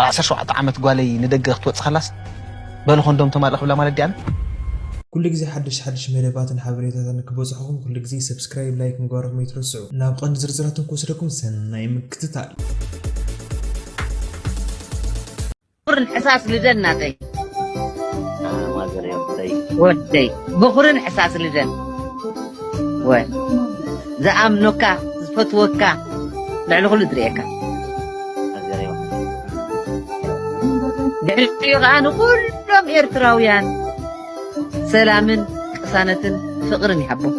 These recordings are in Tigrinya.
ዓሰርተ ሸውዓተ ዓመት ጓለይ ንደገ ክትወጽእ ከላስ በሉ ኮንዶም ተማልእ ክብላ ማለት ድያ? ኩሉ ግዜ ሓደሽቲ ሓደሽቲ መደባትን ሓበሬታታትን ክበጽሑኹም ኩሉ ግዜ ሰብስክራይብ ላይክ ምግባርኹም ኣይትረስዑ። ናብ ቀንዲ ዝርዝራቶም ክወስደኩም ሰናይ ምክትታል። ክቡር ሕሳስ ልደት ናተይ ወደይ በኹርን ሕሳስ ልደን ወ ዝኣምኖካ ዝፈትወካ ልዕሊ ኩሉ ዝርእየካ ድሕሪኡ ከዓ ንኩሎም ኤርትራውያን ሰላምን ቅሳነትን ፍቅርን ይሃቦም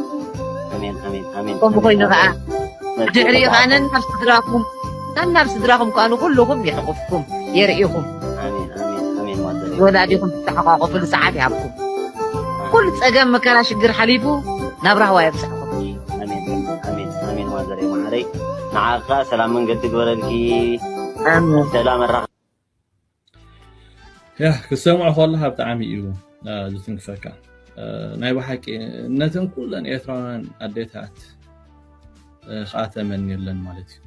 ከምኡ ኮይኑ ከዓ ድሕሪኡ ከዓ ነናብ ስድራኩም ነናብ ስድራኹም ከኣ ንኹሉኹም የሕቑፍኩም የርእኹም ወላዲኹም ትተሓቋቖፍሉ ሰዓት ይሃብኩም ኩሉ ጸገም መከራ ሽግር ሓሊፉ ናብ ራህዋ የብጽሕኩም ንዓኻ ሰላም መንገዲ ግበረልኪ ሰላም ያ ክሰምዖ ከለካ ብጣዕሚ እዩ ዝትንክፈካ ናይ ብሓቂ ነተን ኩለን ኤርትራውያን ኣዴታት ከዓ ተመንየለን ማለት እዩ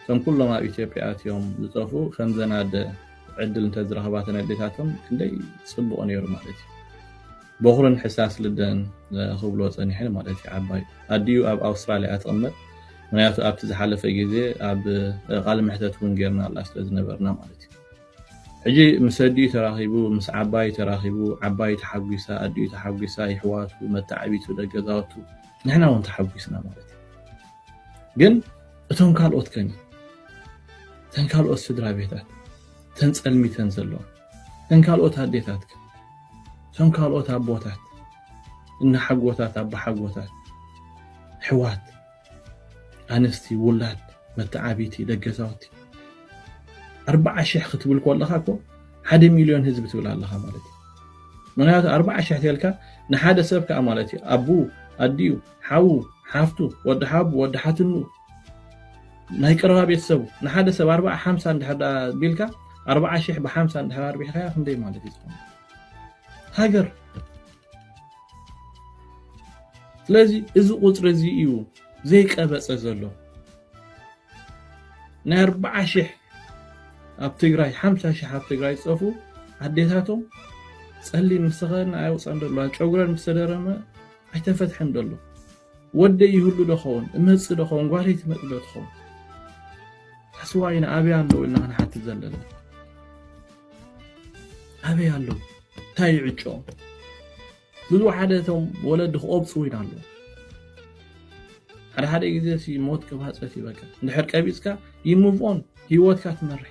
እቶም ኩሎም ኣብ ኢትዮጵያ ኣትዮም ዝጠፍኡ ከምዘናደ ዕድል እንተዝረኽባ ተን ኣዴታቶም ክንደይ ፅቡቕ ነይሩ ማለት እዩ ቦኽርን ሕሳስ ልደን ክብሎ ጸኒሐ ማለት እዩ። ዓባይ ኣዲኡ ኣብ ኣውስትራልያ እያ ትቕመጥ፣ ምክንያቱ ኣብቲ ዝሓለፈ ግዜ ኣብ ቃለ መሕተት እውን ጌርናላ ስለ ዝነበርና ማለት እዩ። ሕጂ ምስ ኣዲኡ ተራኺቡ፣ ምስ ዓባዩ ተራኺቡ፣ ዓባዩ ተሓጒሳ፣ ኣዲኡ ተሓጒሳ፣ የሕዋቱ፣ መታዓቢቱ፣ ደገዛውቱ፣ ንሕና እውን ተሓጒስና ማለት እዩ። ግን እቶም ካልኦት ከ እተን ካልኦት ስድራ ቤታት እተን ጸልሚተን ዘለዋ እተን ካልኦት ኣዴታት ከ? እቶም ካልኦት ኣቦታት፣ እነሓጎታት፣ ኣቦሓጎታት፣ ኣሕዋት፣ ኣንስቲ፣ ውላድ፣ መተዓብይቲ፣ ደገዛውቲ፣ ኣርብዓ ሽሕ ክትብል ከለኻ እኮ ሓደ ሚልዮን ህዝቢ ትብል ኣለኻ ማለት እዩ ምክንያቱ ኣርብዓ ሽሕ ተልካ ንሓደ ሰብ ከዓ ማለት እዩ ኣቡ ኣዲኡ ሓዉ ሓፍቱ ወዲ ሓቡ ወዲ ሓትኑ ናይ ቀረባ ቤተሰቡ ንሓደ ሰብ ኣርባዓ ሓምሳ እንድሕር ደኣ ቢልካ ኣርባዓ ሽሕ ብሓምሳ እንድሕር ኣርቢሕካዮ ክንደይ ማለት እዩ ዝኾነ ሃገር ስለዚ እዚ ቁፅሪ እዚ እዩ ዘይቀበፀ ዘሎ ናይ ኣርባዓ ሽሕ ኣብ ትግራይ ሓምሳ ሽሕ ኣብ ትግራይ ዝፀፉ ኣዴታቶም ፀሊም ምስተኸድና ኣይወፃን ደሎ ጨጉረን ምስተደረመ ኣይተፈትሐን ደሎ ወደይ ይህሉ ዶ ኸውን? እመጽእ ዶ ኸውን? ጓለይ ትመጽእ ዶ ትኸውን? ኣስዋይና ኣበይ ኣለዉ ኢልና ክንሓትት ዘለና ኣበይ ኣለዉ እንታይ እዩ ዕጮኦም ብዝወሓደ እቶም ወለዲ ክቆብፁ ኢና ኣለዉ ሓደ ሓደ ግዜ ሞት ክባፀት ይበቃ እንድሕር ቀቢፅካ ይሙቭኦን ሂወትካ ትመርሕ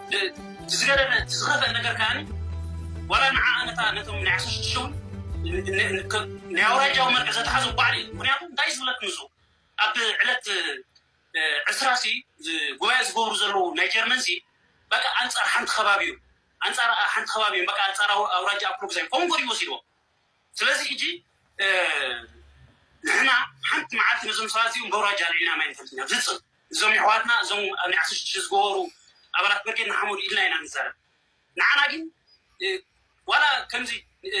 እቲ ዝገረመ እቲ ዝኸፍኣ ነገር ከኣ ዋላ ንዓ ነታ ነቶም ናይ ዓሰርተ ሽዱሽተ ውን ናይ ኣውራጃዊ መርገ ዘትሓዞም ባዕሉ እዩ ምክንያቱ እንታይ ዝብለኩም እዞ ኣብ ዕለት ዕስራ ሲ ጉባኤ ዝገብሩ ዘለዉ ናይ ጀርመን ሲ በቃ ኣንጻር ሓንቲ ከባቢ እዩ ኣንጻር ሓንቲ ከባቢ እዩ በቃ ኣንጻር ኣውራጃ ኣፕሎግዛይ ኮንጎ ድዩ ወሲድዎ ስለዚ ሕጂ ንሕና ሓንቲ መዓልቲ ነዞም ሰባት እዚኦም በውራጃ ኣልዒልና ማይ ንፈልቲ ኢና ብዝፅም እዞም የሕዋትና እዞም ኣብ ናይ ዓሰርተ ሽዱሽተ ዝገበሩ ኣባላት ብርጌድ ንሓመዱ ኢልና ኢና ንዛረብ ንዓና ግን ዋላ ከምዚ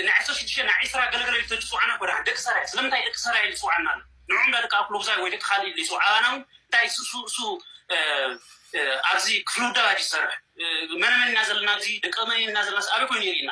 ናይ ዓሰርተ ሽዱሽተ ናይ ዒስራ ገለገለ ኢሉ ተዝፅውዓና እኮ ደሓን ደቂ ሰራየ ስለምንታይ ደቂ ሰራየ ኢሉ ዝፅውዓና ኣሎ ንዕኦም ዳ ደቂ ኣኩሎጉዛይ ወይ ደቂ ካልእ ኢሉ ይፅውዓ ኣባና እውን እንታይ እሱ እሱ ኣብዚ ክፍሊ ውዳባ ዝሰርሕ መነመን ኢና ዘለና ኣብዚ ደቂ መን ኢና ዘለና ኣበይ ኮይኑ የርእና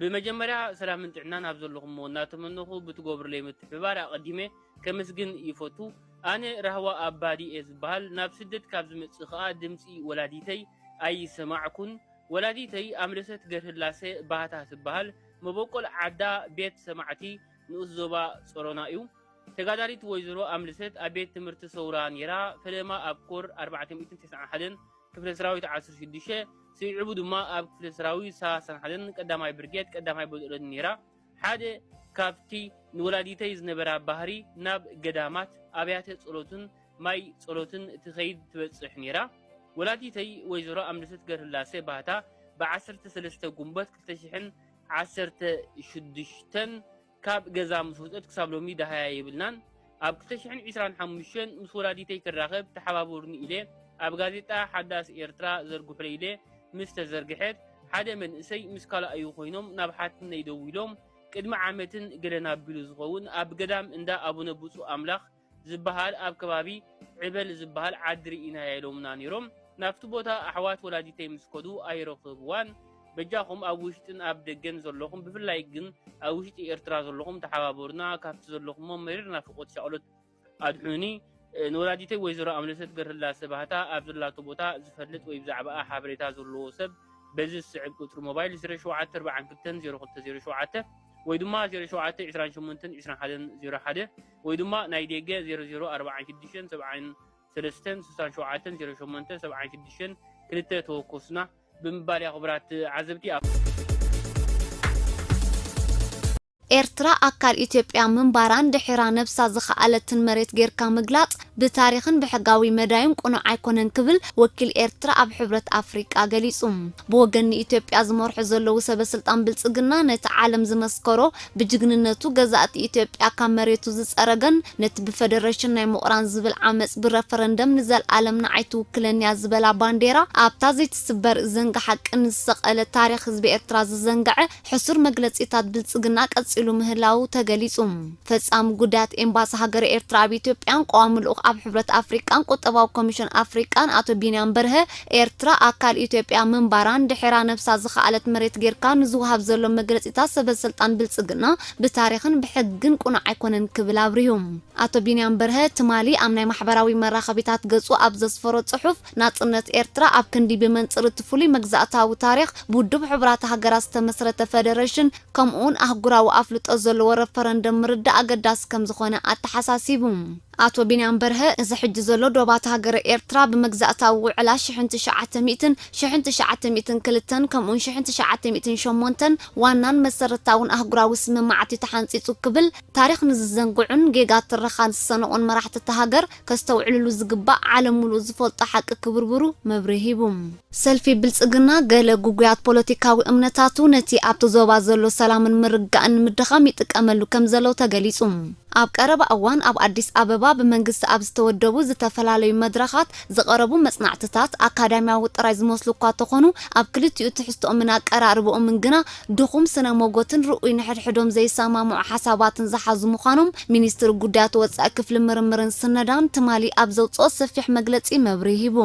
ብመጀመርያ ሰላምን ጥዕናን ኣብ ዘለኹሞ እናተመነኹ ብትገብሩለይ ምትሕብባር ኣቐዲመ ከምስግን ይፈቱ። ኣነ ራህዋ ኣባዲ እየ ዝብሃል። ናብ ስደት ካብ ዝመጽእ ከኣ ድምጺ ወላዲተይ ኣይሰማዕኩን። ወላዲተይ ኣምለሰት ገርህላሰ ባህታ ትብሃል። መበቆል ዓዳ ቤት ሰማዕቲ ንኡስ ዞባ ጸሮና እዩ። ተጋዳሊት ወይዘሮ ኣምልሰት ኣብ ቤት ትምህርቲ ሰውራ ነይራ፣ ፈለማ ኣብ ኮር ኣርባዕተ ሚእትን ተስዓን ሓደን ክፍለ ሰራዊት ዓሰርተ ሽዱሽተ ስዒቡ ድማ ኣብ ክፍለ ሰራዊት ሰላሳን ሓደን ቀዳማይ ብርጌድ ቀዳማይ በጦሎኒ ነይራ። ሓደ ካብቲ ንወላዲተይ ዝነበራ ባህሪ ናብ ገዳማት፣ ኣብያተ ጸሎትን ማይ ጸሎትን ትኸይድ ትበጽሕ ነይራ። ወላዲተይ ወይዘሮ ኣምለሰት ገርህላሰ ባህታ ብዓሰርተ ሰለስተ ጉንቦት ክልተ ሽሕን ዓሰርተ ሽዱሽተን ካብ ገዛ ምስ ወጸት ክሳብ ሎሚ ደሃያ የብልናን። ኣብ ክልተ ሽሕን ዕስራን ሓሙሽተን ምስ ወላዲተይ ክራኸብ ተሓባበሩኒ ኢለ ኣብ ጋዜጣ ሓዳስ ኤርትራ ዘርግሑለይ ኢለ ምስ ተዘርግሐት ሓደ መንእሰይ ምስ ካልኣዩ ኮይኖም ናብ ሓትነይ ደዊሎም ቅድሚ ዓመትን ገለን ኣቢሉ ዝኸውን ኣብ ገዳም እንዳ ኣቡነ ብጹእ ኣምላኽ ዝብሃል ኣብ ከባቢ ዕበል ዝብሃል ዓዲ ርኢናያ ኢሎምና ኔሮም ናብቲ ቦታ ኣሕዋት ወላዲተይ ምስ ከዱ ኣይረኽብዋን በጃኹም ኣብ ውሽጥን ኣብ ደገን ዘለኹም ብፍላይ ግን ኣብ ውሽጢ ኤርትራ ዘለኹም ተሓባበሩና ካብቲ ዘለኹሞ መሪር ናፍቖት ሻቕሎት ኣድሑኑኒ ንወላዲተይ ወይዘሮ ኣምለሰት ገርህላሰ ባህታ ኣብ ዘላቶ ቦታ ዝፈልጥ ወይ ብዛዕባኣ ሓበሬታ ዘለዎ ሰብ በዚ ዝስዕብ ቁጽሪ ሞባይል ዜሮ ሸውዓተ ኣርብዓን ክልተን ዜሮ ክልተ ዜሮ ሸውዓተ ወይ ድማ ዜሮ ሸውዓተ ዕስራን ሸሞንተን ዕስራን ሓደን ዜሮ ሓደ ወይ ድማ ናይ ዴገ ዜሮ ዜሮ ኣርብዓን ሽዱሽተን ሰብዓን ሰለስተን ስሳን ሸውዓተን ዜሮ ሸሞንተ ሰብዓን ሽዱሽተን ክልተ ተወከሱና ብምባል እያ ክቡራት ተዓዘብቲ ኣብ ኤርትራ ኣካል ኢትዮጵያ ምንባራን ድሒራ ነብሳ ዝኸኣለትን መሬት ጌርካ ምግላጽ ብታሪኽን ብሕጋዊ መዳዩን ቅኑዕ ኣይኮነን ክብል ወኪል ኤርትራ ኣብ ሕብረት ኣፍሪቃ ገሊጹ። ብወገን ንኢትዮጵያ ዝመርሑ ዘለዉ ሰበስልጣን ብልጽግና ነቲ ዓለም ዝመስከሮ ብጅግንነቱ ገዛእቲ ኢትዮጵያ ካብ መሬቱ ዝጸረገን ነቲ ብፈደረሽን ናይ ምቑራን ዝብል ዓመጽ ብረፈረንደም ንዘልኣለም ንዓይ ትውክለኒ'ያ ዝበላ ባንዴራ ኣብታ ዘይትስበር ዘንጊ ሓቂ ንዝሰቀለ ታሪኽ ህዝቢ ኤርትራ ዝዘንገዐ ሕሱር መግለጺታት ብልጽግና ቀጺሉ ምህላዉ ተገሊጹ። ፈጻሚ ጉዳያት ኤምባሲ ሃገረ ኤርትራ ኣብ ኢትዮጵያን ቀዋሚ ልኡኽ ኣብ ሕብረት ኣፍሪቃን ቁጠባዊ ኮሚሽን ኣፍሪቃን ኣቶ ቢንያም በርሀ ኤርትራ ኣካል ኢትዮጵያ ምንባራን ድሒራ ነብሳ ዝኸኣለት መሬት ጌርካ ንዝወሃብ ዘሎ መግለጺታት ሰበስልጣን ብልጽግና ብታሪኽን ብሕግን ቅኑዕ ኣይኮነን ክብል ኣብሪሁ። ኣቶ ቢንያም በርሀ ትማሊ ኣብ ናይ ማሕበራዊ መራኸቢታት ገጹ ኣብ ዘስፈሮ ጽሑፍ፣ ናጽነት ኤርትራ ኣብ ክንዲ ብመንጽር እቲ ፍሉይ መግዛእታዊ ታሪኽ ብውድብ ሕቡራት ሃገራት ዝተመስረተ ፈደረሽን ከምኡ'ውን ኣህጉራዊ ኣፍልጦ ዘለዎ ረፈረንደም ምርዳእ ኣገዳሲ ከምዝኾነ ኣተሓሳሲቡ። ኣቶ ቢንያም በርሀ፣ እዚ ሕጂ ዘሎ ዶባት ሃገረ ኤርትራ ብመግዛእታዊ ውዕላ ሽሕን ትሽዓተ ሚእትን፣ ሽሕን ትሽዓተ ሚእትን ክልተን፣ ከምኡውን ሽሕን ትሽዓተ ሚእትን ሸሞንተን ዋናን መሰረታውን ኣህጉራዊ ስምምዓት እዩ ተሓንጺጹ ክብል ታሪኽ ንዝዘንግዑን ጌጋ ትረኻ ዝሰነቑን መራሕቲ እታ ሃገር ከስተውዕልሉ ዝግባእ ዓለም ምሉእ ዝፈልጦ ሓቂ ክብርብሩ መብርሂ ሂቡ። ሰልፊ ብልጽግና ገለ ግጉያት ፖለቲካዊ እምነታቱ ነቲ ኣብቲ ዞባ ዘሎ ሰላምን ምርግጋእን ንምድኻም ይጥቀመሉ ከምዘሎ ተገሊጹ። ኣብ ቀረባ እዋን ኣብ ኣዲስ ኣበባ ብመንግስቲ ኣብ ዝተወደቡ ዝተፈላለዩ መድረኻት ዝቐረቡ መጽናዕትታት ኣካዳሚያዊ ጥራይ ዝመስሉ እኳ ተኾኑ ኣብ ክልቲኡ ትሕዝትኦምን ኣቀራርብኦምን ግና ድኹም ስነ ሞጎትን ርኡይ ንሕድሕዶም ዘይሰማምዑ ሓሳባትን ዝሓዙ ምዃኖም ሚኒስትሪ ጉዳያት ወጻኢ ክፍሊ ምርምርን ስነዳን ትማሊ ኣብ ዘውጽኦ ሰፊሕ መግለጺ መብርሂ ሂቡ።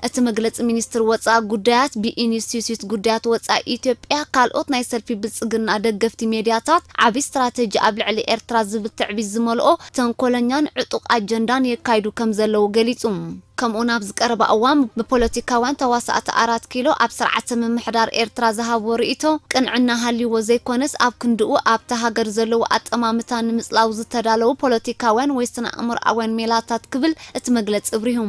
እቲ መግለፂ ሚኒስትር ወፃኢ ጉዳያት ብኢንስቲትዩት ጉዳያት ወፃኢ ኢትዮጵያ ካልኦት ናይ ሰልፊ ብልፅግና ደገፍቲ ሚዲያታት ዓብይ ስትራቴጂ ኣብ ልዕሊ ኤርትራ ዝብል ትዕቢት ዝመልኦ ተንኮለኛን ዕጡቕ ኣጀንዳን የካይዱ ከምዘለዉ ገሊፁ። ከምኡውን ኣብዚ ቀረባ እዋን ብፖለቲካውያን ተዋሳእቲ ኣራት ኪሎ ኣብ ስርዓተ ምምሕዳር ኤርትራ ዝሃብዎ ርኢቶ ቅንዕና ሃልይዎ ዘይኮነስ ኣብ ክንድኡ ኣብታ ሃገር ዘለዉ ኣጠማምታ ንምፅላው ዝተዳለዉ ፖለቲካውያን ወይ ስነኣእምሮኣውያን ሜላታት ክብል እቲ መግለጺ ኣብሪሁ።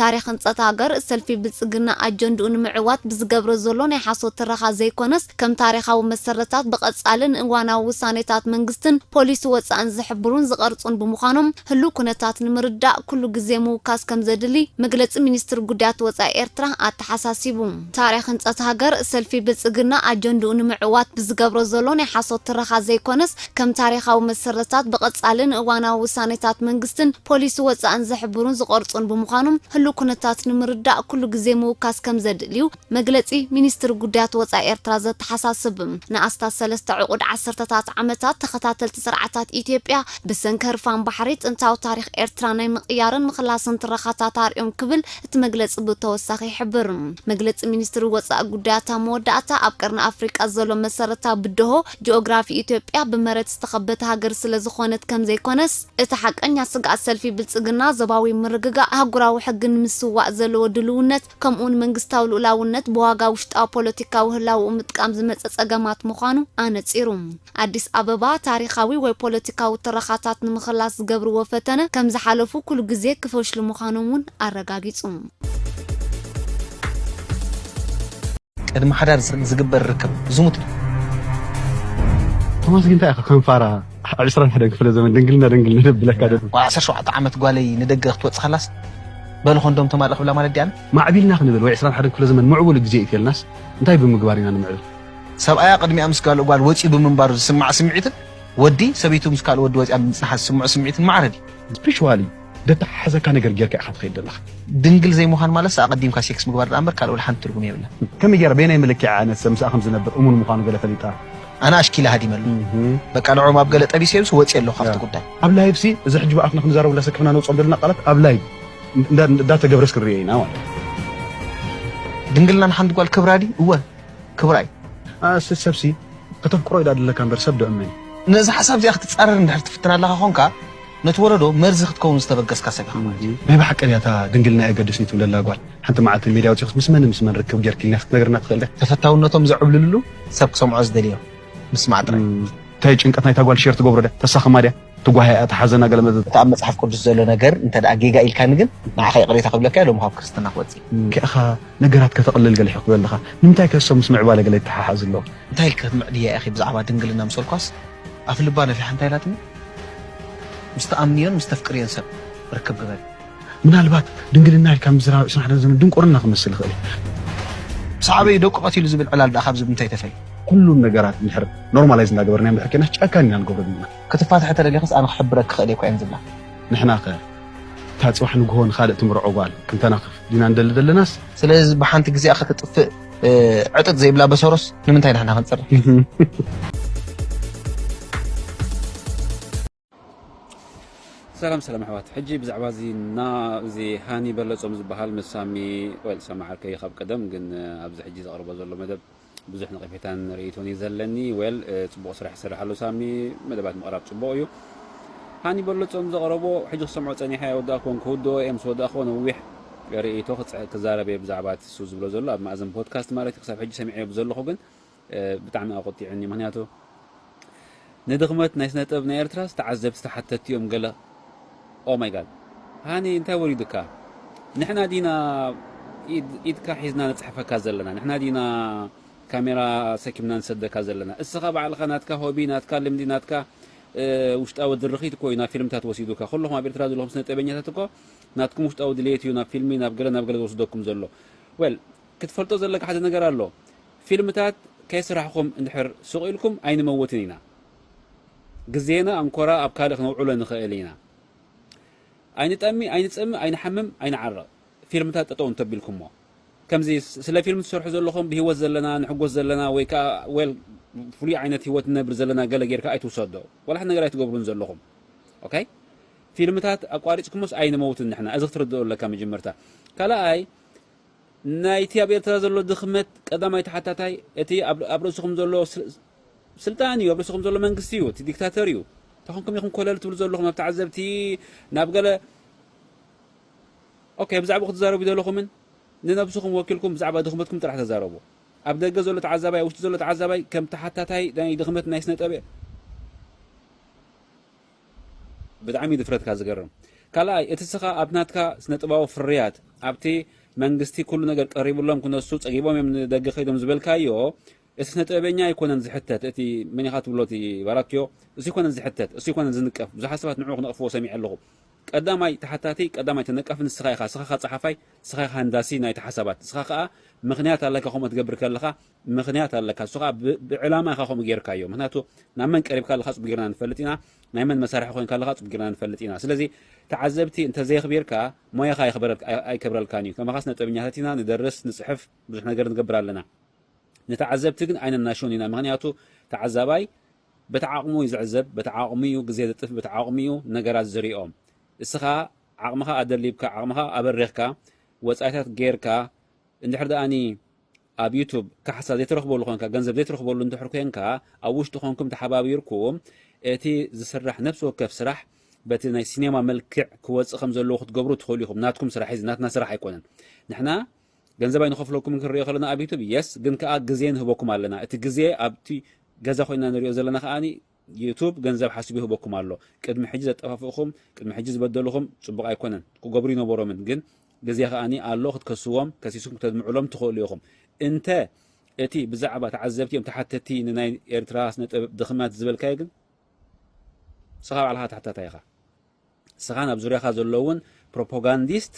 ታሪኽ ህንጸት ሃገር፣ ሰልፊ ብልጽግና ኣጀንድኡ ንምዕዋት ብዝገብሮ ዘሎ ናይ ሓሶት ትረኻ ዘይኮነስ፣ ከም ታሪኻዊ መሰረታት ብቐጻሊ ንእዋናዊ ውሳኔታት መንግስትን ፖሊሲ ወጻእን ዝሕብሩን ዝቐርጹን ብምዃኖም፣ ህሉው ኩነታት ንምርዳእ ኩሉ ግዜ ምውካስ ከምዘድሊ መግለጺ ሚኒስትሪ ጉዳያት ወጻኢ ኤርትራ ኣተሓሳሲቡ። ታሪኽ ህንጸት ሃገር፣ ሰልፊ ብልጽግና ኣጀንድኡ ንምዕዋት ብዝገብሮ ዘሎ ናይ ሓሶት ትረኻ ዘይኮነስ፣ ከም ታሪኻዊ መሰረትታት ብቐጻሊ ንእዋናዊ ውሳኔታት መንግስትን ፖሊሲ ወጻእን ዝሕብሩን ዝቐርጹን ብምዃኖም ህሉው ኩነታት ንምርዳእ ኩሉ ግዜ ምውካስ ከም ዘድሊ'ዩ መግለጺ ሚኒስትሪ ጉዳያት ወጻኢ ኤርትራ ዘተሓሳስብ። ንኣስታት ሰለስተ ዕቑድ ዓሰርተታት ዓመታት ተኸታተልቲ ስርዓታት ኢትዮጵያ ብሰንኪ ህርፋን ባሕሪ ጥንታዊ ታሪኽ ኤርትራ ናይ ምቕያርን ምኽላስን ትረኻታት ኣርእዮም ክብል እቲ መግለጺ ብተወሳኺ ይሕብር። መግለጺ ሚኒስትሪ ወጻኢ ጉዳያት ኣብ መወዳእታ ኣብ ቀርኒ ኣፍሪቃ ዘሎ መሰረታዊ ብደሆ ጂኦግራፊ ኢትዮጵያ ብመሬት ዝተኸበተ ሃገር ስለዝኾነት ከምዘይኮነስ እቲ ሓቀኛ ስግኣት ሰልፊ ብልጽግና ዞባዊ ምርግጋእ፣ ኣህጉራዊ ሕጊ ንምስዋእ ዘለዎ ድልውነት ከምኡውን መንግስታዊ ልኡላውነት ብዋጋ ውሽጣዊ ፖለቲካዊ ህላወኡ ምጥቃም ዝመጸ ጸገማት ምዃኑ ኣነጺሩ። ኣዲስ ኣበባ ታሪኻዊ ወይ ፖለቲካዊ ትረኻታት ንምኽላስ ዝገብርዎ ፈተነ ከም ዝሓለፉ ኩሉ ግዜ ክፈሽሉ ምዃኖም እውን ኣረጋጊጹ። ቅድሚ ሓዳር ዝግበር ርክብ ዝሙት እዩ። ቶማስ ግን እንታይ ኢኻ ከም ፋራ ኣብ ዕስራን ሓደን ክፍለ ዘመን ድንግልና ድንግልና ደብለካ ደሎ ዓሰርተ ሸውዓተ ዓመት ጓለይ ንደገ ክትወጽእ ከላስ በሉ ኮንዶም ተማልእ ክብላ ማለት ድያኒ ማዕቢልና ክንብል ወይ ዕስራን ሓደን ክፍለ ዘመን ምዕቡል ግዜ እዩ ተልናስ እንታይ ብምግባር ኢና ንምዕብል ሰብኣያ ቅድሚኣ ምስ ካልእ ጓል ወጺኡ ብምንባሩ ዝስምዓ ስምዒትን ወዲ ሰበይቱ ምስ ካልእ ወዲ ወጺኣ ብምጽንሓ ዝስምዖ ስምዒትን ማዕረ ድዩ ስፒሪቹዋሊ ደተሓሓዘካ ነገር ጌርካ ኢኻ ትኸይድ ዘለኻ። ድንግል ዘይምዃን ማለትስ ኣቐዲምካ ሴክስ ምግባር ደኣ እምበር ካልእ ወላ ሓንቲ ትርጉም የብላን። ከመይ ገይረ በየናይ መለኪዒ እያ ነሰ ምስኣ ከም ዝነብር እሙን ምዃኑ ገለ ፈሊጣ? ኣነ ኣሽኪለ ሃዲመሉ በቃ ንዕኦም ኣብ ገለ ጠቢሰዮምሲ ወጽየ ኣለኹ ካብቲ ጉዳይ። ኣብ ላይቭሲ እዚ ሕጂ ብኣፍና ክንዛረቦ እንዳሰከፍና ነውጽኦም ዘለና ቃላት ኣብ ላይቭ እንዳተገብረስ ክንርእዮ ኢና ማለት ድንግልና ንሓንቲ ጓል ክብራ ድዩ? እወ ክብራ እዩ። ኣስ ሰብሲ ከተፍቅሮ እዩ ደኣ ዘለካ እምበር ሰብ ዶ እመን እዩ። ነዛ ሓሳብ እዚኣ ክትጻረር እንድሕር ትፍትን ኣለኻ ኾንካ፣ ነቲ ወለዶ መርዚ ክትከውን ዝተበገስካ ሰብ ኢኻ ማለት እዩ። ናይ ብሓቂ ድያ እታ ድንግልና ኣየገድስን'ዩ ትብለላ ጓል? ሓንቲ መዓልቲ ንሜድያ ኣውጺእክስ ምስ መንን ምስ መን ርክብ ጌርኪ ኢልና ክትነግረና ትኽእል ድያ? ተፈታውነቶም ዘዕብልልሉ ሰብ ክሰምዖ ዝደልዮ ምስማዕ ጥራይ። እንታይ ጭንቀት ናይታ ጓል ሼር ትገብሮ ድያ ተሳኽማ ድያ ትጓህያ'ያ ትሓዘና ገለ መዘተ። እቲ ኣብ መጽሓፍ ቅዱስ ዘሎ ነገር እንተ ደኣ ጌጋ ኢልካኒ ግን ንዓኻ ይቕሬታ ክብለካ'የ ሎሚ ካብ ክርስትና ክወጽእ እየ። ከእኻ ነገራት ከተቕልል ገለ ሕክበ ኣለኻ ንምንታይከ እሶም ምስ ምዕባለ ገለ ይተሓሓዝ ኣሎ። እንታይ ኢልኪ ክትምዕድያ ኢኺ ብዛዕባ ድንግልና ምስ በልኳስ ኣፍልባ ነፊሓ እንታይ ኢላትኒ? ምስ ትኣምንዮን ምስ ተፍቅርዮን ሰብ ርክብ ግበሪ። ምናልባት ድንግልና ኢልካ ምዝራብ ዕስራን ሓደን ዘመን ድንቁርና ክመስል ይኽእል እዩ። ሳዕቤኑ ደቁ ቀቲሉ ዝብል ዕላል ድኣ ካብዚ ብምንታይ ተፈልዩ? ኩሉ ነገራት እንድሕር ኖርማላይዝ እንዳገበርናዮ እንድሕር ኬድናስ ጨካን ኢና ንገብሮ ዘለና። ክትፋታሕ ተደሊኽስ ኣነ ክሕብረኪ ክኽእል እየ እኳ እየን ዝብላ። ንሕናኸ እታ ጽባሕ ንግሆ ንኻልእ ትምርዖ ጓል ክንተናኽፍ ዲና ንደሊ ዘለናስ? ስለዚ ብሓንቲ ግዜኣ ክትጥፍእ ዕጥጥ ዘይብላ በሰሮስ ንምንታይ ንሕና ክንፅርፍ ሰላም ሰላም ኣሕዋት ሕጂ ብዛዕባ እዚ እና እዚ ሃኒ በለጾም ዝበሃል መሳሚ ወይ ሰማዓርከ ይኻብ ቀደም ግን ኣብዚ ሕጂ ዘቕርቦ ዘሎ መደብ ብዙሕ ነቐፌታን ርእይቶን እዩ ዘለኒ ወል ጽቡቕ ስራሕ ይሰርሕ ኣሎ ሳሚ መደባት ምቕራብ ጽቡቕ እዩ ሃኒ በለጾም ዘቕረቦ ሕጂ ክሰምዖ ጸኒሐ ወዳእኮን ክውድኦ እየ ምስ ወዳእኮ ነዊሕ ርእይቶ ክዛረብ እየ ብዛዕባ እቲ እሱ ዝብሎ ዘሎ ኣብ ማእዝን ፖድካስት ማለት እዩ ክሳብ ሕጂ ሰሚዐዮ ብዘለኹ ግን ብጣዕሚ ኣቖጢዑኒ ምኽንያቱ ንድኽመት ናይ ስነ ጥበብ ናይ ኤርትራስ ተዓዘብቲ ተሓተቲ እዮም ገለ ኦማይጋድ ሃኒ እንታይ ወሪዱካ ንሕና ዲና ኢድካ ሒዝና ንጽሕፈካ ዘለና ንሕና ዲና ካሜራ ሰኪምና ንሰደካ ዘለና እስኻ ባዕልኻ ናትካ ሆቢ ናትካ ልምዲ ናትካ ውሽጣዊ ድርኺት እኮ እዩ ናብ ፊልምታት ወሲዱካ ኩልኹም ኣብ ኤርትራ ዘለኹም ስነ ጥበበኛታት እኮ ናትኩም ውሽጣዊ ድልየት እዩ ናብ ፊልሚ ናብ ገለ ናብ ገለ ዝወስደኩም ዘሎ well ክትፈልጦ ዘለካ ሓደ ነገር ኣሎ ፊልምታት ከይስራሕኹም እንድሕር ስቕ ኢልኩም ኣይንመውትን ኢና ግዜና ኣንኮራ ኣብ ካልእ ክነውዕሎ ንኽእል ኢና ኣይንጠሚ ኣይንጸሚ ኣይንሓምም ኣይንዓረቕ ፊልምታት ጠጠው እንተቢልኩሞ ከምዚ ስለ ፊልም ትሰርሑ ዘለኹም ብሂወት ዘለና ንሕጎስ ዘለና ወይ ከዓ well ፍሉይ ዓይነት ሂወት ንነብር ዘለና ገለ ጌርካ ኣይትውሰዶ ዋላ ሓደ ነገር ኣይትገብሩን ዘለኹም ኦኬ ፊልምታት ኣቋሪጽኩሞስ ኣይንመውትን ንሕና እዚ ክትርድኦ ኣለካ መጀመርታ ካላኣይ ናይቲ ኣብ ኤርትራ ዘሎ ድኽመት ቀዳማይ ተሓታታይ እቲ ኣብ ርእስኹም ዘሎ ስልጣን እዩ ኣብ ርእስኹም ዘሎ መንግስቲ እዩ እቲ ዲክታተር እዩ ተኾንኩም ኢኹም ኮለል ትብሉ ዘለኹም ኣብ ተዓዘብቲ ናብ ገለ ኦኬ ብዛዕባ ክትዛረቡ ዘለኹምን ንነብስኹም ወኪልኩም ብዛዕባ ድኽመትኩም ጥራሕ ተዛረቡ ኣብ ደገ ዘሎ ተዓዛባይ ኣብ ውሽጢ ዘሎ ተዓዛባይ ከም ተሓታታይ ናይ ድኽመት ናይ ስነ ጠበ ብጣዕሚ እዩ ድፍረትካ ዝገርም ካልኣይ እቲ እስኻ ኣብ ናትካ ስነጥባዊ ፍርያት ኣብቲ መንግስቲ ኩሉ ነገር ቀሪብሎም ክነሱ ጸጊቦም እዮም ንደገ ከይዶም ዝበልካዮ እቲ ስነጥበበኛ ኣይኮነን ዝሕተት እቲ መን ኢኻ ትብሎ እቲ ባራክዮ እሱ ይኮነን ዝሕተት እሱ ይኮነን ዝንቀፍ ብዙሓት ሰባት ንዑ ክነቕፍዎ ሰሚዐ ኣለኹ ቀዳማይ ተሓታቲ ቀዳማይ ተነቃፊ ንስኻ ኢኻ እስኻ ከ ጸሓፋይ እስኻ ኢኻ ሃንዳሲ ናይቲ ሓሳባት እስኻ ከኣ ምኽንያት ኣለካ ከምኡ ትገብር ከለኻ ምኽንያት ኣለካ ንሱ ከኣ ብ ብዕላማ ኢኻ ከምኡ ጌርካዮ ምኽንያቱ ናብ መን ቀሪብካ ኣለኻ ጽቡቅ ጌርና ንፈልጥ ኢና ናይ መን መሳርሒ ኮይንካ ኣለኻ ጽቡቅ ጌርና ንፈልጥ ኢና ስለዚ ተዓዘብቲ እንተ ዘየኽቢርካ ሞያኻ ኣይኽብረ ኣይከብረልካን እዩ ከማኻስ ነጥበኛታት ኢና ንደርስ ንጽሕፍ ብዙሕ ነገር ንገብር ኣለና ንተዓዘብቲ ግን ኣይነናሽውን ኢና ምኽንያቱ ተዓዛባይ በቲ ዓቕሙ እዩ ዝዕዘብ በቲ ዓቕሙ እዩ ግዜ ዘጥፍ በቲ ዓቕሙ እዩ ነገራት ዝሪኦም እስኻ ዓቕምኻ ኣደሊብካ ዓቕምኻ ኣበሪኽካ ወጻኢታት ጌርካ እንድሕር ደኣኒ ኣብ ዩቱብ ካሕሳ ዘይትረኽበሉ ኮንካ ገንዘብ ዘይትረኽበሉ እንድሕር ኮንካ ኣብ ውሽጢ ኮንኩም ተሓባቢርኩም እቲ ዝስራሕ ነብሲ ወከፍ ስራሕ በቲ ናይ ሲኔማ መልክዕ ክወጽእ ከም ዘለዎ ክትገብሩ ትኽእሉ ኢኹም ናትኩም ስራሕ እዚ ናትና ስራሕ ኣይኮነን ንሕና ገንዘብ ኣይንኸፍለኩምን ክንሪኦ ከለና ኣብ ዩቱብ የስ ግን ከኣ ግዜ ንህበኩም ኣለና እቲ ግዜ ኣብቲ ገዛ ኮይና ንሪኦ ዘለና ከኣ ዩቱብ ገንዘብ ሓሲቡ ይህበኩም ኣሎ ቅድሚ ሕጂ ዘጠፋፍእኹም ቅድሚ ሕጂ ዝበደሉኹም ጽቡቕ ኣይኮነን ክገብሩ ይነበሮምን ግን ግዜ ከኣ ኣሎ ክትከስዎም ከሲስኩም ክተድምዑሎም ትኽእሉ ኢኹም እንተ እቲ ብዛዕባ ተዓዘብቲ እዮም ተሓተቲ ንናይ ኤርትራ ስነጥበብ ድኽመት ዝበልካዮ ግን ንስኻ ባዕልኻ ተሓታታይ ኢኻ። ንስኻን ኣብ ዙርያኻ ዘለዉን ፕሮፖጋንዲስት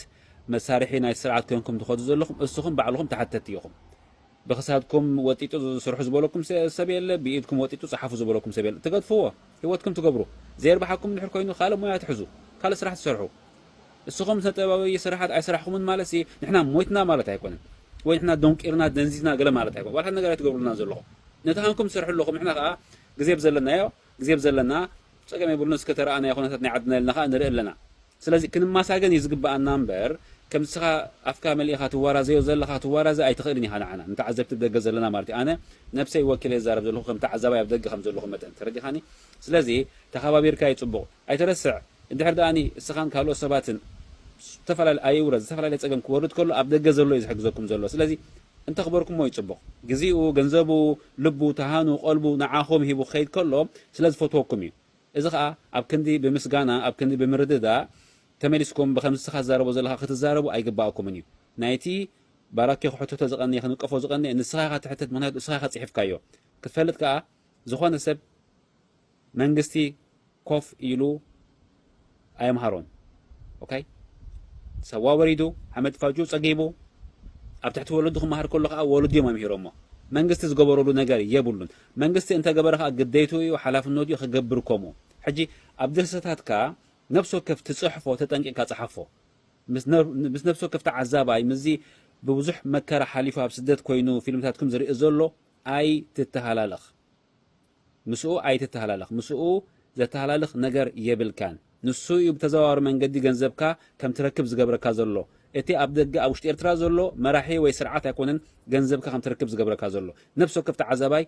መሳርሒ ናይቲ ስርዓት ኮይንኩም ትኸዱ ዘለኹም እስኹም ባዕልኹም ተሓተቲ ኢኹም። ብክሳድኩም ወጢጡ ስርሑ ዝበለኩም ሰብ የለ፣ ብኢድኩም ወጢጡ ጸሓፉ ዝበለኩም ሰብ የለ። ትገድፍዎ፣ ህይወትኩም ትገብሩ። ዘይርብሓኩም እንድሕር ኮይኑ ካልእ ሞያ ትሕዙ፣ ካልእ ስራሕ ትሰርሑ። እስኹም ስነጥበባዊ ስራሓት ኣይሰራሕኹምን ማለትሲ ንሕና ሞይትና ማለት ኣይኮነን። ወይ ንሕና ደንቂርና ደንዚዝና ገለ ማለት ኣይኮነን። ዋላ ሓደ ነገር ኣይትገብሩልናን ዘለኹም። ነቲ ሃንኩም ትሰርሑ ኣለኹም ንሕና ከኣ ግዜ ብዘለናዮ ግዜ ብዘለና ጸገም የብሉን እስከ ተረኣ ናይ ኩነታት ናይ ዓድና ኢልና ከኣ ንርኢ ኣለና ስለዚ ክንማሳገን እዩ ዝግበኣና እምበር ከም ንስኻ ኣፍካ መሊእኻ ትዋራዘዮ ዘለኻ ትዋራዘ ኣይትኽእልን ኢኻ ንዓና ንተዓዘብቲ ብ ደገ ዘለና ማለት እዩ ኣነ ነብሰይ ወኪለ ይዛረብ ዘለኹ ከም ተዓዛባይ ኣብ ደገ ከም ዘለኹ መጠን ተረዲኻኒ ስለዚ ተኻባቢርካ እዩ ጽቡቕ ኣይትረስዕ እንድሕር ድኣኒ እስኻን ካልኦት ሰባትን ዝተፈላለ ኣይውረድ ዝተፈላለየ ጸገም ክወርድ ከሎ ኣብ ደገ ዘሎ እዩ ዝሕግዘኩም ዘሎ ስለዚ እንተኽበርኩሞ እዩ ጽቡቕ። ግዚኡ ገንዘቡ ልቡ ተሃኑ ቀልቡ ንዓኹም ሂቡ ክኸይድ ከሎ ስለ ዝፈትወኩም እዩ እዚ ኸኣ ኣብ ክንዲ ብምስጋና ኣብ ክንዲ ብምርድዳእ ተመሊስኩም ብኸምዚ እስኻ ትዛረቦ ዘለኻ ክትዛረቡ ኣይግባኣኩምን እዩ ናይቲ ባራኪ ክሕተቶ ዝቐነየ ክንቀፎ ዝቐነየ ንስኻ ኢኻ ትሕተት ምኽንያቱ እስኻ ኢኻ ጽሒፍካዮ ክትፈልጥ ከኣ ዝኾነ ሰብ መንግስቲ ኮፍ ኢሉ ኣየምሃሮን ኦከይ ሰዋ ወሪዱ ሓመድ ፋጁ ጸጊቡ ኣብ ትሕቲ ወለዱ ክመሃር ከሎ ከኣ ወለዱ እዮም ኣምሂሮሞ መንግስቲ ዝገበረሉ ነገር የብሉን መንግስቲ እንተገበረ ከኣ ግዴቱ እዩ ሓላፍነቱ እዩ ክገብር ከምኡ ሕጂ ኣብ ድርሰታትካ ነብሲ ወከፍ ትጽሕፎ ተጠንቂቕካ ጽሓፎ ምስ ነብሲ ወከፍ ተዓዛባይ ምስዚ ብብዙሕ መከራ ሓሊፉ ኣብ ስደት ኮይኑ ፊልምታትኩም ዝርኢ ዘሎ ኣይትተሃላለኽ ምስኡ ኣይትተሃላለኽ፣ ምስኡ ዘተሃላልኽ ነገር የብልካን። ንሱ እዩ ብተዘዋዋሪ መንገዲ ገንዘብካ ከም ትረክብ ዝገብረካ ዘሎ። እቲ ኣብ ደገ ኣብ ውሽጢ ኤርትራ ዘሎ መራሒ ወይ ስርዓት ኣይኮነን ገንዘብካ ከም ትረክብ ዝገብረካ ዘሎ። ነብሲ ወከፍ ተዓዛባይ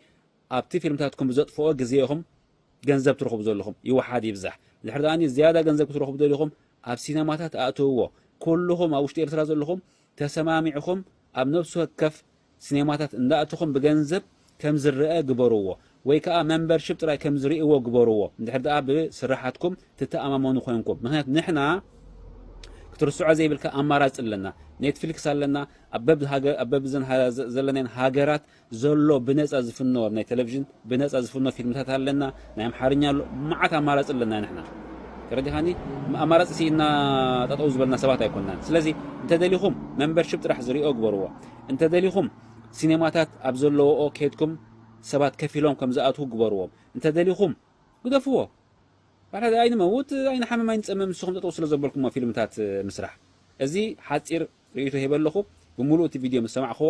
ኣብቲ ፊልምታትኩም ብዘጥፍኦ ግዜ ኢኹም ገንዘብ ትረኽቡ ዘለኹም፣ ይውሓድ ይብዛሕ። ድሕሪ ድኣኒ ዝያዳ ገንዘብ ክትረኽቡ ደሊኹም ኣብ ሲነማታት ኣእትውዎ። ኩሉኹም ኣብ ውሽጢ ኤርትራ ዘለኹም ተሰማሚዕኹም ኣብ ነብሲ ወከፍ ስኔማታት እንዳእተኹም ብገንዘብ ከም ዝረኣ ግበርዎ ወይ ከኣ መምበርሺፕ ጥራይ ከም ዝርእይዎ ግበርዎ እንድሕር ደኣ ብስርሓትኩም ትተኣማመኑ ኮይንኩም ምኽንያቱ ንሕና ክትርስዖ ዘይብልካ ኣማራጺ ኣለና ኔትፍሊክስ ኣለና ኣብ በብዘን ዘለናየን ሃገራት ዘሎ ብነጻ ዝፍኖ ኣብ ናይ ተለቭዥን ብነጻ ዝፍኖ ፊልምታት ኣለና ናይ ኣምሓርኛ ኣሎ መዓት ኣማራጺ ኣለና ንሕና ተረዲኻኒ ኣማራጺ ሲኢና ጠጠው ዝበልና ሰባት ኣይኮናን ስለዚ እንተደሊኹም መንበርሽፕ ጥራሕ ዝሪኦ ግበርዎ እንተደሊኹም ሲኔማታት ኣብ ዘለዎኦ ኬድኩም ሰባት ከፊሎም ከም ዝኣትዉ ግበርዎም እንተደሊኹም ግደፍዎ ባሕዳ ኣይንመውት ኣይንሓምም ኣይንጸምም ንስኹም ጠጠው ስለ ዘበልኩሞ ፊልምታት ምስራሕ እዚ ሓጺር ርእይቶ ሂበ ኣለኹ ብምሉእ እቲ ቪድዮ ምስ ሰማዕክዎ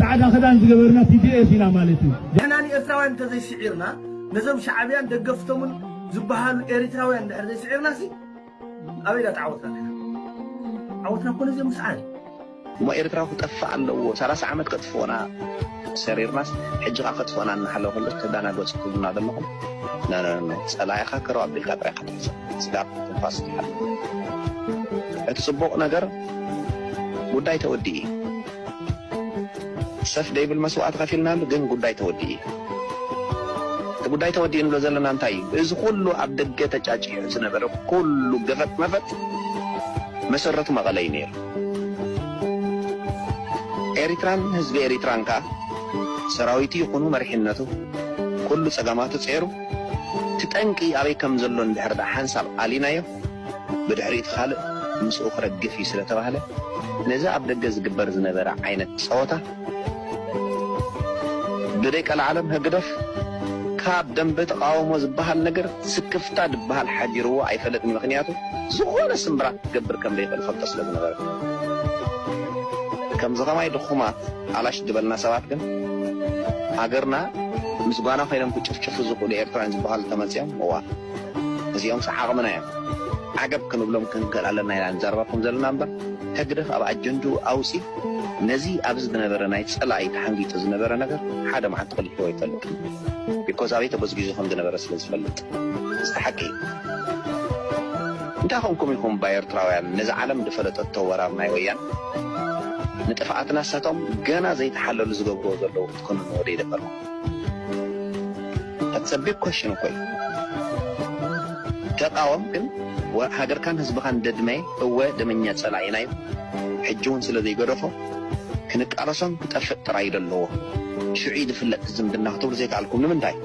ጻዕዳ ክዳን ዝገበርና TDF ኢና ማለት እዩ። ንሕና ንኤርትራውያን እንተዘይ ስዒርና ነዞም ሻዕብያን ደገፍቶምን ዝበሃሉ ኤሪትራውያን እንድሕር ዘይ ስዒርናሲ ኣበይ ዳኣ ተዓወትና ንሕና። ዓወትና እኮ ነዚኦም ምስዓር እዩ። እሞ ኤርትራ ክጠፍእ ኣለዎ ሰላሳ ዓመት ከጥፍኡና ሰሪርናስ ሕጂ ከኣ ከጥፍኡና እናሃለወ ከሎስ ተዳናገጹ ትብሉና ዘለኹም ኖኖኖ ጸላኢኻ ከረው ኣቢልካ ጥራይ ኢኻ ትሕሰብ። ምጽዳቕ ትንፋስ ትሓልፍ። እቲ ጽቡቕ ነገር ጉዳይ ተወዲኡ እዩ። ሰፍ ደይብል መስዋእቲ ከፊልናሉ ግን ጉዳይ ተወዲኡ እዩ። እቲ ጉዳይ ተወዲኡ ንብሎ ዘለና እንታይ እዩ? እዚ ኩሉ ኣብ ደገ ተጫጪሑ ዝነበረ ኩሉ ገፈጥ መፈጥ መሰረቱ መቐለ እዩ ነይሩ። ኤሪትራን ህዝቢ ኤሪትራን ከኣ ሰራዊቱ ይኹኑ መሪሕነቱ ኩሉ ጸገማቱ ጼሩ እቲ ጠንቂ ኣበይ ከም ዘሎ እንድሕር ደኣ ሓንሳብ ኣሊናዮ፣ ብድሕሪኡ እቲ ካልእ ምስኡ ክረግፍ እዩ ስለ ተባህለ፣ ነዚ ኣብ ደገ ዝግበር ዝነበረ ዓይነት ጸወታ፣ ብደቀለዓለም ህግደፍ ካብ ደምበ ተቓውሞ ዝበሃል ነገር ስክፍታ ዝበሃል ሓዲርዎ ኣይፈለጥን ምኽንያቱ ዝኾነ ስምብራት ክገብር ከም ዘይኽእል ይፈልጦ ስለ ዝነበረ። ከምዚ ከማይ ድኹማት ኣላሽ። ዝበልና ሰባት ግን ሃገርና ምስ ጓና ኮይኖም ክጭፍጭፉ ዝኽእሉ ኤርትራውያን ዝበሃሉ ተመጽዮም እዋእ እዚኦምስ ዓቕምና እዮም ዓገብ ክንብሎም ክንክእል ኣለና ኢና ንዛረበኩም ዘለና እምበር ህግደፍ ኣብ ኣጀንድኡ ኣውጺ ነዚ ኣብዚ ዝነበረ ናይ ጸላኢ ተሓንጊጡ ዝነበረ ነገር ሓደ መዓልቲ ክልሕዎ ኣይፈልጥን ቢኮዝ ኣበይ ተጎዝጊዙ ከም ዝነበረ ስለ ዝፈልጥ እዚ ሓቂ እዩ እንታይ ኮንኩም ኢኹም እባ ኤርትራውያን ነዚ ዓለም ዝፈለጠቶ ወራር ናይ ወያነ ንጥፍኣት ናሳቶም ገና ዘይተሓለሉ ዝገብርዎ ዘለዉ ክትኮንንዎ ዶ ይደፈርኩም That's a big question እኮ እዩ ተቃወም ግን ሃገርካን ህዝብኻን ደድመይ እወ ደመኛ ጸላኢና እዩ ሕጂ ውን ስለ ዘይገደፎ ክንቃለሶን ክጠፍእ ጥራይ እዩ ደለዎ ሽዑ እዩ ዝፍለጥ እቲ ዝምድና ክትብሉ ዘይከኣልኩም ንምንታይ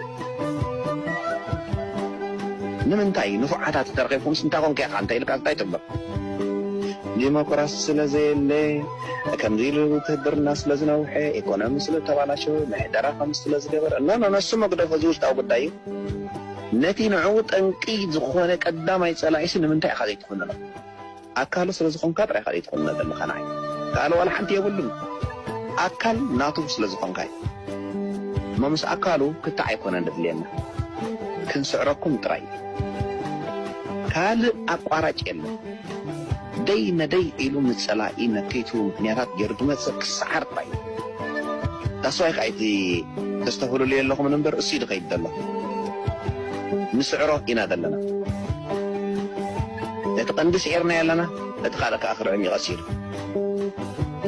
ንምንታይ ንፉዓታት ተርኺብኩምስ እንታይ ኮንካ ኢኻ እንተ ኢልካስ እንታይ ትብሎ? ዲሞክራሲ ስለ ዘየለ፣ ከምዚ ኢሉ ውትህድርና ስለ ዝነውሐ፣ ኢኮኖሚ ስለ ዝተባላሸወ፣ ምሕደራ ከምዚ ስለ ዝገበረ፣ ኖ ኖ ነሱ መግደፎ እዚ ውሽጣዊ ጉዳይ እዩ። ነቲ ንዕኡ ጠንቂ ዝኾነ ቀዳማይ ጸላኢሲ ንምንታይ ኢኻ ዘይትኹንኖ? ኣካሉ ስለ ዝኾንካ ጥራይ ኢኻ ዘይትኹንኖ ዘለኻ ንዓይ ክኣለ ዋላ ሓንቲ የብሉን ኣካል ናቱ ስለ ዝኾንካ እዩ እሞ ምስ ኣካሉ ክትዕ ኣይኮነን ዘድልየና ክንስዕረኩም ጥራይ እዩ ካልእ ኣቋራጭ የለን ደይ መደይ ኢሉ ንጸላኢ መከይቱ ምኽንያታት ጌሩ ዝመጽእ ክስዓር ጥራይ እዩ። That's why ከኣ ኢቲ ተስተብህልሉ የለኹምን እምበር እሱዩ ድኸይድ ደሎ ንስዕሮ ኢና ደለና ነቲ ቀንዲ ስዒርናዮ ኣለና ነቲ ካልእ ከኣ ክርዕም ዩ ቀሲሉ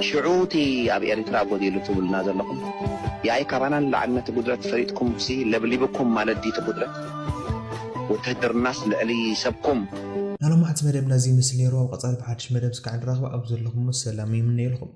ሽዑ እቲ ኣብ ኤሪትራ ጎዲሉ ትብሉና ዘለኹም ያኢ ካባና ንላዕሊ ነቲ ጉድለት ፈሊጥኩምሲ ለብሊብኩም ማለት ድዩ እቲ ጉድለት ውትህድርናስ ልዕሊ ሰብኩም። ናሎማዕንቲ መደብ ናዚ ይመስል ነይሩ ኣብ ቐፃሊ ብሓድሽ መደብ እስካዕ ንራኽብ ኣብ ዘለኹሞ ሰላም ይምነየልኹም።